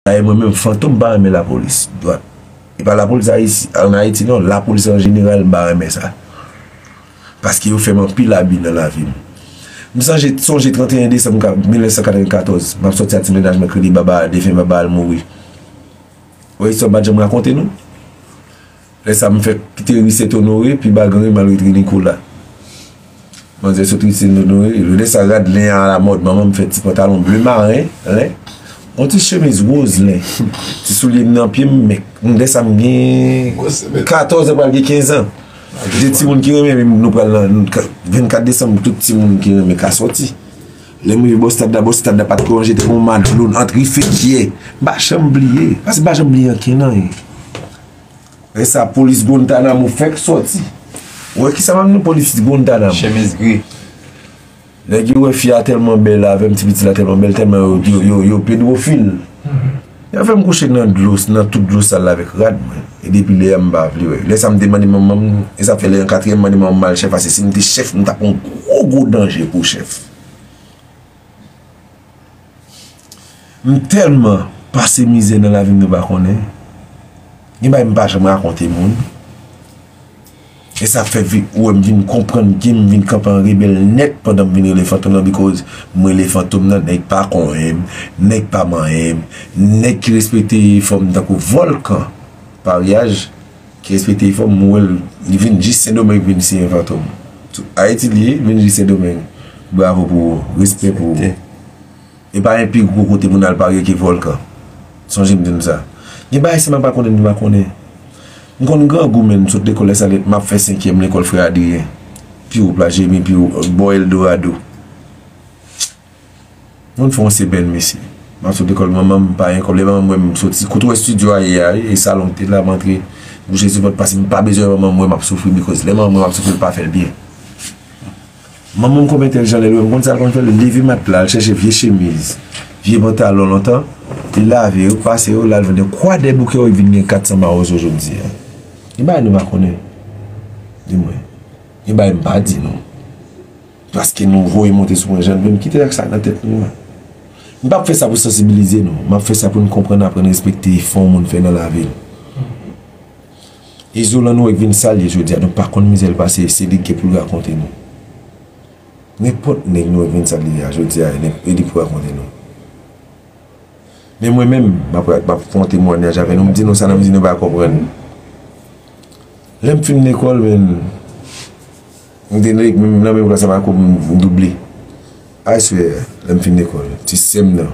Dayè mwen menm Fantom m pa renmen lapolis dwat. E pa lapolis ayisyen an ayiti non lapolis an jeneral m pa renmen sa. Paske yo fè m anpil abi nan lavi m. M sanje sonje 31 desanm 1994 m ap sòti ak ti mennaj mwen kredi baba a defen baba a l mouri. Wè istwa m pa t janm rakonte nou. Lè sa m fèk kite ri Sent Onore, pi ba Granri m al ret ri Nikola. Manzè sot ri Sent Onore, lè sa rad len an alamòd, manman m fè ti pantalon ble maren, len, yon ti chemiz woz len, ti soulye m nan pye m, men lè sa m gen katòz an pral gen kenzan. Gen timoun ki renmen ri m, nou pral nan, 24 desanm tout timoun ki renmen ka sòti. Lè m rive bò stad la, bò stad la pa t ko ranje te gen yon madlo ant ri Fekyè. M pa janm bliye, paske m pa janm bliye ankenn anyen. Lè sa polis Guantanamo fèk sòti. Ou wè kisa m ap di nou polis Guantanamo. Chemiz gri. Nèg yo wè fi a tèlman bèl avè m ti pitit la tèlman bèl tèlman yo pedwofil. Yo fè m kouche nan dlo nan tout dlo sal la avèk rad mwen. E depi lè a m pa vle wè. Lè sa m te mande manman m e sa fè lè an katriyèm m mande manman m m al chèf ase si m te chèf m ta pran gwo gwo danje pou chèf. M telman pase mizè nan lavim nou pa konnen gen bagay m pa janm rakonte moun esa fè ou wèm vin konprann kem vin kanpe an rebèl nèt pandan m vin rele fantom nan bikòz m rele fantom nan nèg pa konyenm nèg pa manyenm nèg ki respekte fòm tankou vòlkan paryaj. Ki respekte efò m, m wè l, li vin jis Sendomeng pou vin siyen Fantom. Ayiti li ye, li vin jis Sendomeng. Bravo pou ou, respè pou ou. E pa gen pi gwo kote pou n al parye ke vòlkan. Sonje m di nou sa. Gen bagay si m pa konnen, m pa konnen. M konn grangou men m sot lekòl Lasalèt, m ap fè senkyèm lekòl Frè Adriyen. Pi wo, Plas Jeremi, pi wo, bò Eldorado. Moun fè yon semèn mesye. M ap sot lekòl manman m pa gen kòb lè manman m wè m soti kote w wè studio a ye a wi e salon m te la m antre m kouche sou pòt paske m pa bezwen manman m wè m ap soufri bikòz lè manman m wè m ap soufri l pa fè l byen Manman m kòm entèlijan lè l wè m konn sa l konn fè l leve matla al chèche vye chemiz vye pantalon lontan li lave yo pase yo l al vann yo kwa dèboukè w vin gen 400 mawozo jodi a Gen bagay nou pa konnen di mwen Gen bagay m pa di nou. Paske nou voye monte sou mwen jan n vle, m kite ak sa nan tèt nou an. M pap fè sa pou sansibilize nou, m ap fè sa pou n konprann aprann respekte efò yon moun fè nan lavi l. Izolan nou wè k vin sa l ye jodi a nou pa konn mizè l pase e se li k gen pou l rakonte nou. Nenpòt nèg nou wè k vin sa l ye a jodi a e li pou rakonte nou. Men mwen menm m ap m ap fè yon temwanyaj avè nou m di nou sa nan m di nou pa konprann. Lè m fin lekòl men. M te nan menm klas avè akoum m double I swear lèm fin lekòl ti sèm nan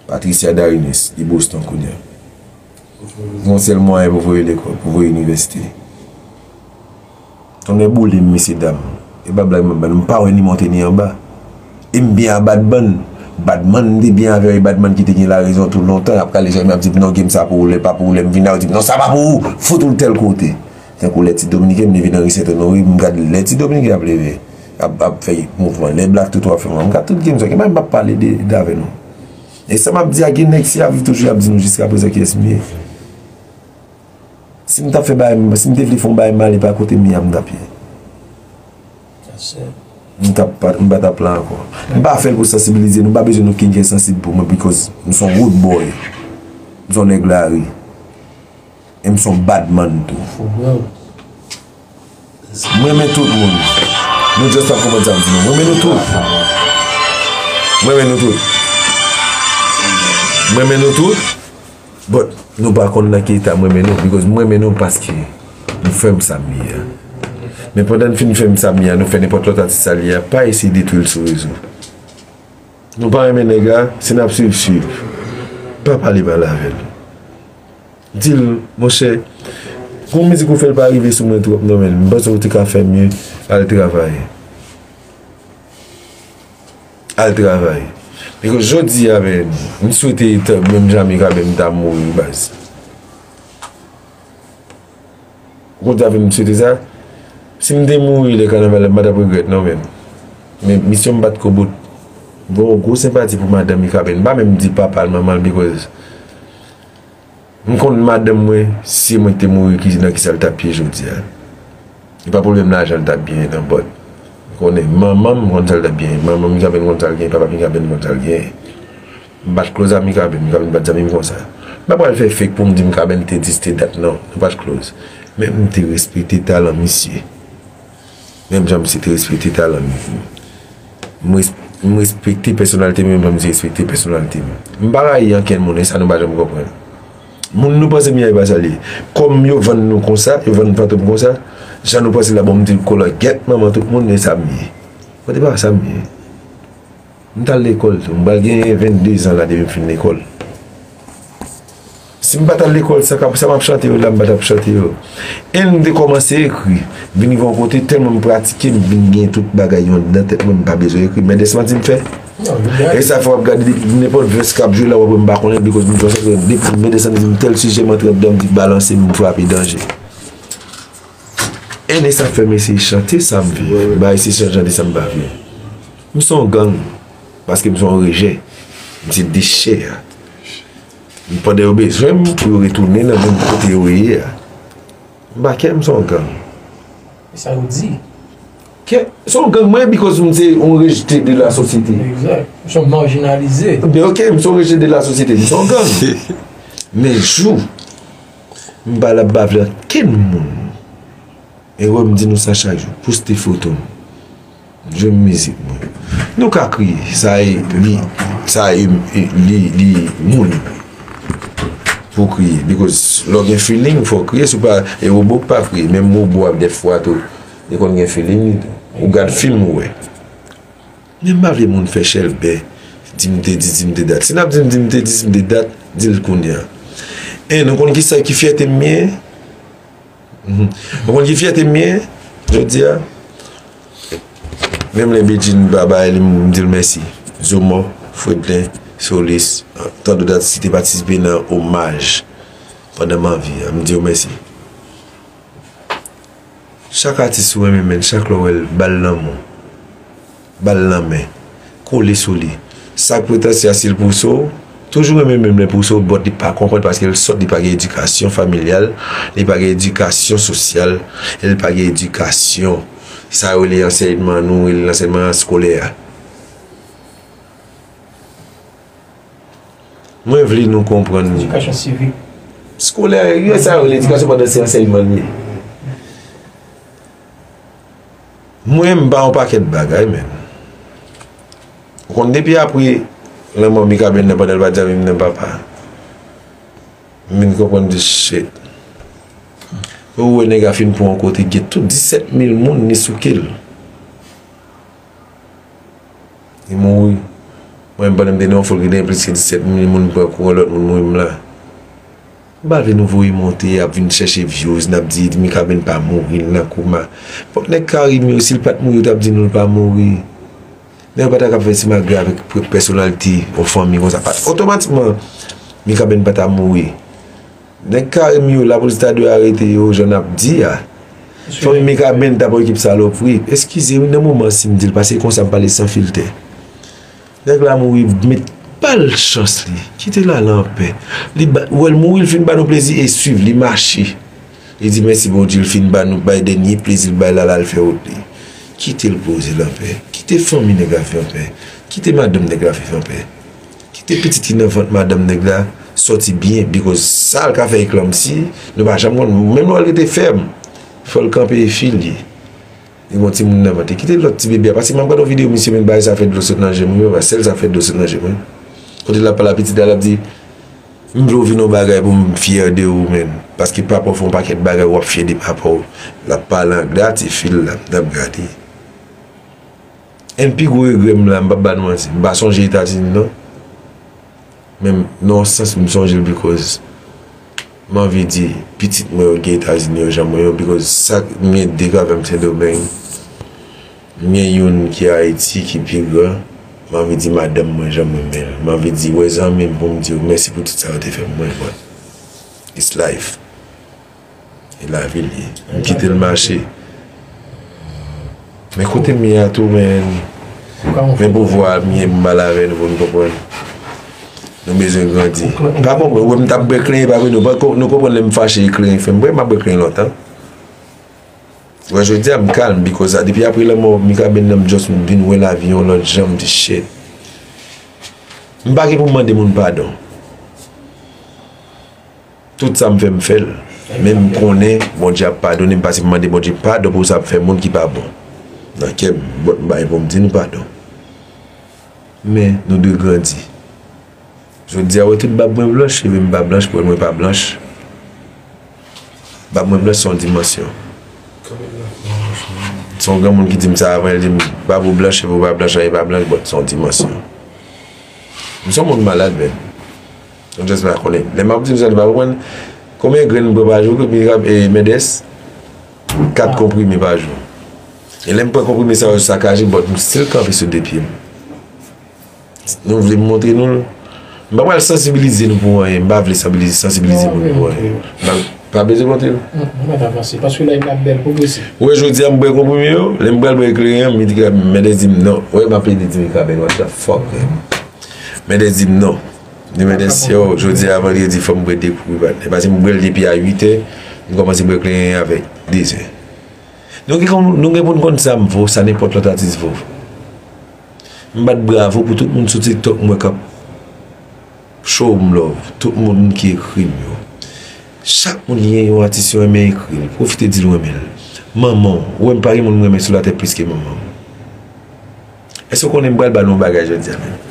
Patricia Darines li Boston kounya yon sèl mwayen pou voye lekòl pou voye inivèsite tonnè boulem mesye dam e pa blag map bay nou m pa wè ni monte ni anba e m byen a Badman Badman m te byen avè e Badman ki te gen la rezon tou lontan ap kale jèm ap di m non gem sa pou ou lè pa pou ou lèm vin la ou di m non sa pa pou ou fout ou l tèl kote. Tankou lè ti dominiken m leve nan ri sentonori m gad lè ti dominiken ap leve ap ap fè mouvman lè black toto ap fè mouvman m gad tout game sa gen bagay m pap pale de de avè nou e sa map di a gen nèg si yap viv toujou yap di nou jiskaprezan kiyès m ye si m tap fè bagay m si m te vle fon bagay mal e pa kote m ye a m tap ye m tap pa m pa tap la ankò m pa fèl pou sansibilize nou m pa bezwen nou ken kè sansib pou mwen bikòz m son wood boy m son nèg lari. M son bad man tou. Fo blan. M renmen tout moun. Nou just ap konprann sa m di nou. M renmen nou tout. M renmen nou tout. M renmen nou tout. But nou pa konn nan ki eta m renmen nou. Because m renmen nou paske nou fè m sa m ye a. Men pandan n fin fè m sa m ye a nou fè nenpòt lòt atis sa l ye a pa eseye detwi l sou rezo. Nou pa renmen nèg la, si n ap swiv swiv. Pa pale pale avè l. Dil monchè Pou mizik ou fèl pa rive sou mwen twòp non menn Mpanse ou te ka fè mye Al travay Al travay Bikòz jodia menn Mswete Thug menm jamika menm ta mouri baz. Kote avèm m swete sa Si m te mouri lè kanaval la m pa t ap regrèt non men Men misyon m bat ko bout M gen yon gwo senpati pou madanm Mikaben M pa menm di papa l manman l bikòz M konn madanm mwen si se mwen ki te mouri ki nan kisa l t ap ye jodi a E pa pwoblèm lajan l t ap genyen nan Bòt m konnen manman m konn sa l t ap genyen Manman Mikaben konn sa l genyen Papa Mikaben konn sa l genyen M pat close ak Mikaben, Mikaben pat zanmim konsa. M pa pral fè fake poum di Mikaben te dis te dat non, nou pat close. Men m te respekte talan misye. Menm jan misye te respekte talan m. M respekte pèsonalite misye menm jan misye respekte pèsonalite m. M pa rayi ankenn moun e sa nou pa janm konprann. Moun nou panse Miay pa sa l ye. Kòm yo vann nou konsa, yo vann Fantom konsa, jan nou panse l la bon m di l kolangèt manman tout moun e sa m ye. Mwen te pa sa m ye. M t al lekòl tou. M pral gen 22 zan la depi m fin lekòl. Si m pa t al lekòl, sa k sa m ap chante yo la m pa t ap chante yo. E m te kòmanse ekri. Vin gen yon kote tèlman m pratike m vin gen tout bagay yo anndan tèt mwen m pa bezwen ekri. Men dès manti m fè. E sa fè w ap gade depi nenpòt vès k ap jwe la w ap wè m pa konnen depi kote m sòti. Depi men dès manti m tèl sijè m antre anndan m di balanse m frape danje. Ernest ap fèm eseye chante sam viv bay se sèl chante sam pa vle m son gang paske m son rejè m se dechè a pandan yo bezwenm pou yo retounen nan menm kote yo ye a m pa kè m son gang e sa yo di kè son gang mwen bikòz m se yon rejte de la sosyete egzat m son marjinalize ok m son rejte de la sosyete m son gang men jou M pa la bave ak kenn moun e wè m di nou sa chak jou poste foto m jwenm mizik mwen nou ka kriye sa e li sa e li li moun pou kriye bikòz lò gen filing fò kriye sou pa e wobo k pa kriye menm wobo ap dèfwa tou li konn gen filing li tou ou gad fim ou wè. Men m pa vle moun fè chèlbè di m te di, di m te dat. Si n ap di m di m te di, di m te dat, di l kounye a. En, ou konn ki sa ki fyète m ye? Ou konn ki fyète m ye jodi a? Menm lè Bedjine pa bay li m di l mèsi. Zomò, Fredlin, Solis, tant dot atis ki te patisipe nan omaj pandan m anvi a, m di yo mèsi. Chak atis ou renmen menn chak lè w wèl bal lanmou bal lanmen kole sou li sak pou tansia sil pouso w toujou renmen menm lè pouso w bòt li pa konprann paske l sòt li pa gen edikasyon familyal li pa gen edikasyon sosyal e li pa gen edikasyon sa yo rele ansèyman nou rele ansèyman eskolè a. Mwen vle nou konprann ni. Edikasyon sivik. Skolè, yo sa yo ledikasyon pandan se ansèyman li ye. Mwen m ba yon pakèt bagay menm. Ou konn depi apre lanmò Mikaben nan pandan l pa t janm renmen papa a. M vin konprann di shit. Ou wè nèg a fin pran yon kote gen tout 17 mil moun ni souke l. Li mouri. Mwen menm pandan m te nan yon fòl ki te gen plis ke 17 mil moun m pran kou yon lòt moun mouri m la. M pa vle nou voye monte ap vin chèche vyouz n ap di Mikaben pa mouri l nan koma. Fòk nèg Karim yo si l pat mouri yo t ap di nou l pa mouri. Nèg yo pa ta ka fè simagrè avèk pèsonalite yon fanmi konsa. Otomatikman Mikaben pa ta mouri. Nèg Kareem yo la police ta dwe arete yo jan nap di a. Fanmi Mikaben ta pran ekip salopri. Eskize wi nan moman sim dil paske e konsa m pale san filtè. Nèg la mouri met bal chans li. Kite l al anpè. Li ba wè l mouri l fin ba nou plezi e swiv li mache. Li di mèsi Bondye l fin ba nou bay dènye plezi l bay la la l fè wout li. Kite l poze l anpè. Kite fanmi nèg la viv anpè. Kite madanm nèg la viv anpè. Kite pitit li nan vant madanm nèg la sòti byen because sal ka fè eklanmsi nou pa janm konn menm lè l rete fèm fòl kanpe e fil li gen yon timoun nan vant li kite lòt ti bebe a paske map gad yon video misye menm bagay sa fè dlo sot nan jem wi papa sèl sa fè dlo sot nan jem wi kote lap pale a pitit la lap di m vle w vin yon bagay pou m fyè de ou menn paske papa w fè yon pakèt bagay wap fyè de papa w lap pale anglè a ti fil la nap gade. 1 pi gwo regrè m la m pap ba nou manti m pa sonje etazini non men nan yon sans m sonje l bikòz m anvi di pitit mwen yo gen etazini yo jan mwen yo bikòz sa m gen 2 gravè m sendomeng m gen youn ki ayiti ki pi gran m anvi di madanm mwen jan m renmen l m anvi di wè zanmi m pou m di yo mèsi pou tout sa yo te fè m mwen bon it's life. E lavi l ye. M kite l mache. Men kote m ye a tou men. Men pouvwa a m ye m mal avè l pou n konprann. Nou bezwen grandi. M pa konprann. Ou wè m t ap bwè kle epa vre nou konprann lè m fache e kle fè m bwè. M pa bwè kle lontan. Ou wè jodi a m kalm bikòz a depi apre lanmò Mikaben nan m just m vin wè lavi yon lòt jan m di shit. M pa gen pou m mande moun padon. Tout sa m fè m fè l, men m konnen Bondye ap padone m pase m mande Bondye padon pou sa m fè moun ki pa bon nan kè m, bòt m bay pou m di nou padon. Men, nou dwe grandi. Jodi a wè tout bab mwen blanch, cheve m pa blanch, pwèl mwen pa blanch. Bab mwen blanch se yon dimansyon. Se yon granmoun ki di m sa avan, li di m, bab ou blanch, cheve ou pa blanch, anyen pa blanch, bòt se yon dimansyon. M se yon moun malad menm. Mwen just vle konnen. Lè map di misye li pa konprann. Konbyen grenn bwe pa jou ke Mirab e Mendes? 4 konprime pa jou. E lèm pran konprime sa yo sakaje but m still kanpe sou 2 pyem. Nou vle m montre nou l? M pa pral sansibilize nou pou anyen. M pa vle sansibilize moun pou anyen. M pa bezwen montre nou. M pa ta panse. Paske layf la bèl pou vre se. Ou wè jodi a m bwe konprime yo. Lè m pral bwe ekleren an Mendes di m non. Ou wè m ap plede di Mikaben what the fuck. Mendes di m non. Ni mèt ensi yo, jodi a vandredi fòm bwè 2 koup rivanè. Pase m bwè l depi a 8 è, m kòmanse bwè kle 1 avè 2 zè. Nou gen konn, nou gen pou n konn sa m vo, sa nenpòt lòt atis vo. M bat bravo pou tout moun sou tiktok m wè k ap show m love, tout moun ki ekri m yo. Chak moun ki gen yon atis yo renmen ekri l, pwofite di l ou renmen l. Manman w, ou wè m pa gen moun m renmen sou latè plis ke manman m. Èske w konnen m pral ba nou yon bagay jodi a menm?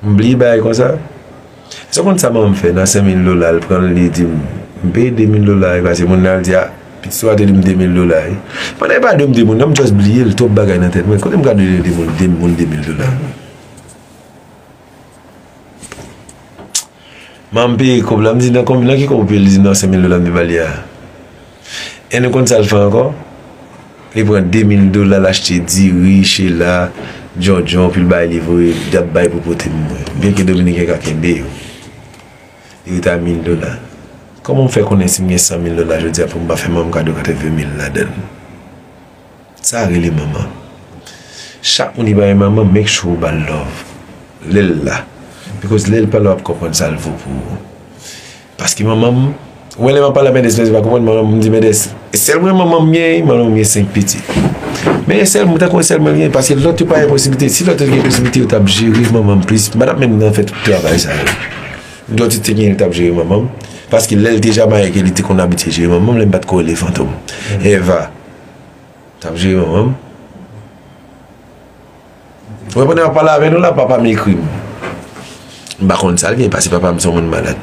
M bliye bagay konsa? Èske w konn sa manman m fè nan senmil dola l pran l li di m m peye demil dola wi pase moun nan al di a pitit sa w a te di m demil dola wi pandan e pa dwe m di moun nan m just bliye l twòp bagay nan tèt mwen kote m ka dwe di moun de moun demil dola manman m peye kòb la m di nan ki kòb ou peye l li di nan senmil dola m te ba li a. En nou konn sal fè ankò? Li pran 2000 dola l achte diri, chela, djondjon pou l bay li voye li ap bay pou pote pou mwen. Byen ke dominiken ka kenbe yo. Li rete a 1000 dola. Kòman m fè konnen si m gen 100 mil dola jodi a pou m pa fè manman m kado 80 mil ladan l? Sa rele manman. Chak moun ki pa gen manman make sure ou bal love lè l la. Bikòz lè l pa la w ap konprann sa l vo pou ou. Paske manman m, ou wè lè m ap pale ak Mendès la li pa konprann, manman m di Mendès, e sèl mwen manman m gen? Manman m gen 5 pitit. Men e sèl mwen, m ta konn e sèl mwen l gen paske lòt yo pa gen posiblite. Si lòt yo te gen posiblite yo t ap jere manman m plis. Madam menm nan fè tout travay sa yo. Lòt yo te gen yo t ap jere manman m. Paske lè l te Jamayik e li te konn abitye jere manman m lè m pa t ko rele Fantom. Eva t ap jere manman m. Mwen konnen wap pale avè nou la papa m ekri m m pa konn sal gen pase papa m son moun malad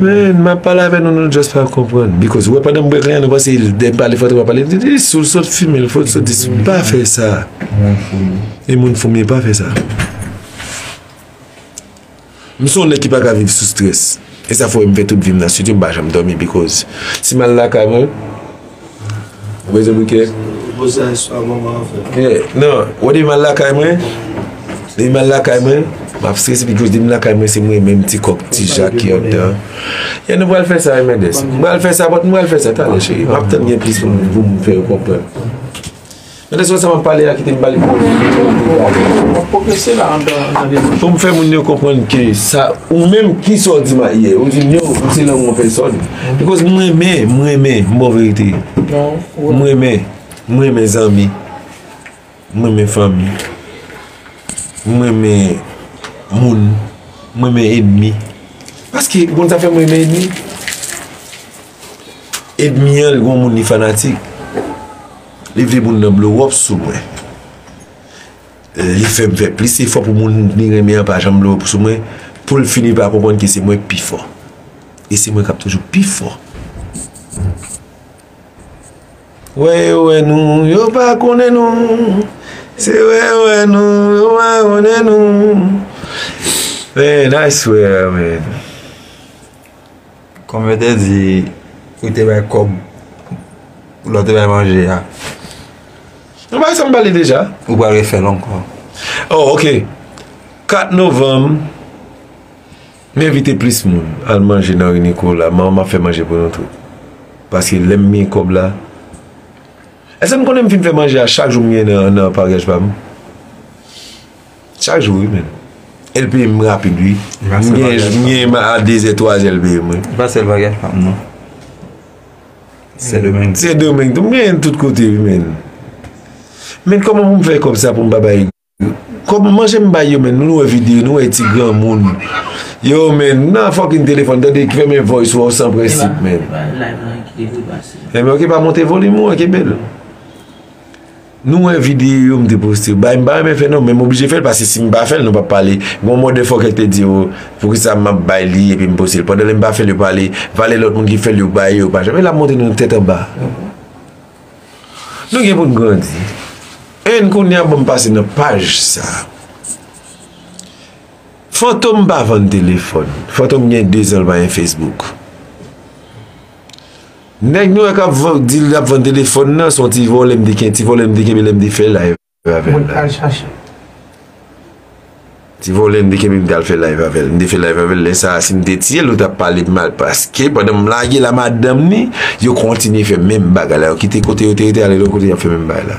men map pale avè nou nou just pa konprann bikòz wè pandan m bwè kleren nou panse lè m pale fò twòp pale m di sou l sot fime l fò l sot dis pa fè sa e moun fou m ye pa fè sa. M son nèg ki pa ka viv sou strès e sa fè m fè tout vim nan studio m pa janm dòmi bikòz si m al lakay mwen Rezo bouke nan wè depi m al lakay mwen depi m al lakay mwen m ap strese bikòz depi m lakay mwen se mwen menm ti kòk ti jak ki anndan e nou pral fè sa e mèndes m pral fè sa bòt m pral fè sa talè cheri m ap tann gen plis moun pou m fè yo konprann. Gade sou whatsapp ap pale a kite m bali pou ou. Wap pwogrese la an dan nan de. Fom fè moun yo konprann ke sa ou menm ki sa w di m a yè. Ou di m yo ou se lanmou an pèsòn. Bikòz m renmen, m renmen m ba w verite. M renmen, m renmen zanmi. M renmen fanmi. M renmen moun. M renmen enmi. Paske ou konn sa fè m renmen enmi? Enmi an l gon moun li fanatik. Li vle moun nan blow up sou mwen Li fèm fè plis efò pou moun li renmen an pa janm blow up sou mwen Poul fini pa konprann ke se mwen pi fò E se mwen kap toujou pi fò Wè yo wè nou yo pa konnen nou Se wè yo wè nou yo pa konnen nou Man I swear man. Kòm yo te di ou te bay kòb lè w te bay manje a. Mwen bay sa m bay li deja. Ou pral refè l ankò. Oh ok 4 novanm m envite plis moun al manje nan ri Nikola m ap fè manje pou nou tout paske lè m gen kòb la èske n konnen m fin fè manje a chak jou m ye nan paryaj pa m. Chak jou wi menm. El peye m rapid wi. M genyen a 2 zè 3 zè l peye m wi. E pa sèl bagay fanm non. Sendomeng. Sendomeng tou. M genyen l tout kote wi menn. Menn kòman pou m fè kòb sa pou m pa bay. Kòb manje m bay yo menn. Nou wè videyo nou wè ti granmoun. Yo menn nan fòkin telefòn tande ki fèmen voice ou san prensip menn. Epa live lan ki te vre pase. Emen ok pa monte volim ou an ki bel. Nou wè video yo m te poste yo bay m pa renmen fè non men m oblije fè l paske si m pa fè l nou pap pale gon mòde fòkè ki te di yo poukisa map bay li epi m poste l pandan lè m pa fè l yo pale valè lòt moun ki fè l yo bay yo pa janm e lap montre nou tèt anba nou gen pou n grandi en kounye a ban m pase nan paj sa Fantom pa vann telefòn Fantom gen 2 zan l pa gen Facebook. Nèg nwè kap vann di lap vann telefòn nan son ti vòlè m te kenbe ti vòlè m te kenbe lèm te fè live avèl Mwen pral chache l. Ti vòlè m te kenbe m tal fè live avèl m te fè live avèl lè sa sim te tiyel nou tap palem mal paske pandan m lagel a madanm ni yo kontinye fè menm bagay la yo kite kote yo te rete ale lòt kote yap fè menm bagay la.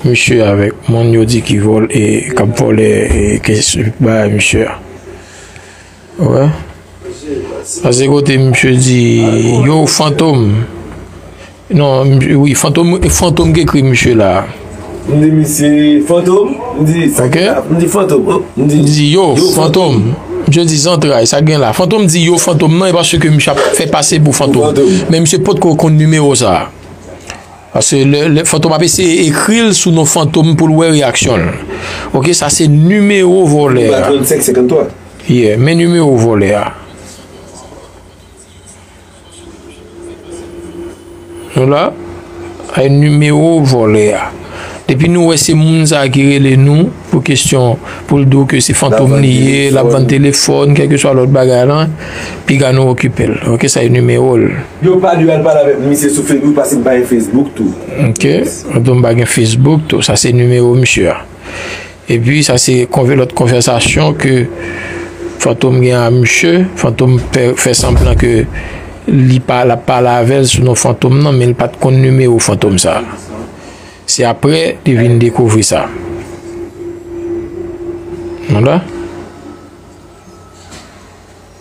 Misye avèk moun yo di ki vòl e kap vòlè e ke ba misye a. Wè. Ase kote misye di yo fantom. Non, wi fantom, fantom ki ekri misye la. M di misye fantom, m di sa gen la, m di fantom. M di yo fantom. Misye di zantray, sa gen la. Fantom di yo fantom nan e paske misye ap fè pase pou fantom. Men misye potko konn nimewo sa. Paske lè lè fantom ap eseye ekril sou non fantom poul wè reyaksyonl ok sa se nimewo vòlè a ye men nimewo vòlè a nou la nimewo vòlè a. Depi nou wè se moun sa ki rele nou pou kesyon pou l di w ke se fantom li ye, l ap vann telefòn, kèlkeswa lòt bagay lan, piga nou okipe l. Ok, sa e nimewo l. Yo pa dwe al pale avèk misye sou Facebook paske m pa gen Facebook tou. Ok, m pa gen Facebook tou. Sa se nimewo misye a. Epi sa se konve lòt konvèsasyon ke Fantom gen a misye, Fantom pè fè sanblan ke li pa lap pale avèl sou non Fantom nan men li pat konn nimewo Fantom sa. Se aprè li vin dekouvri sa. Nou wè?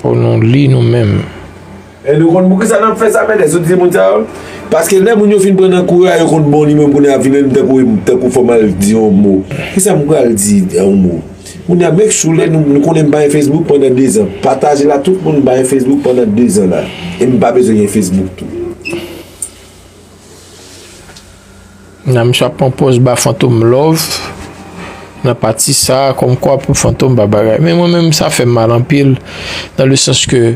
Pou nou li nou menm. E nou konn poukisa nap fè sa mènè soti se moun sa yo. Paske lè moun yo fin pran nan kou a yo konn bon li menm kounya ap vin menm tankou em tankou fòm al di yon mo kisam pral di yon mo kounya make sure lè nou nou konnen m pa gen facebook pandan 2 zan pataje la tout moun m pa gen facebook pandan 2 zan la em pa bezwen gen facebook tou. Nan misye ap pran pòz ba fantom love nan pati sa kòm kwa pou fantom pa bagay men mwen menm sa fèm mal anpil nan le sans ke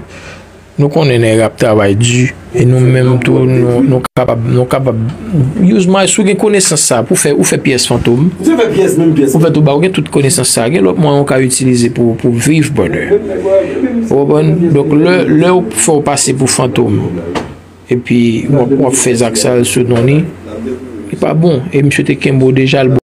nou konnen nèg ap travay di e nou menm tou nou kapab nou kapab use my sou gen konesans sa pou fè ou fè pyès fantom ou fè tou ba ou gen tout konesans sa gen lòt mwen ou ka itilize pou pou viv brother ou konprann donk lè ou fè ou pase pou fantom. Epi wap fè zak sal sou non li. Li pa bon. E misye te kenbe w deja.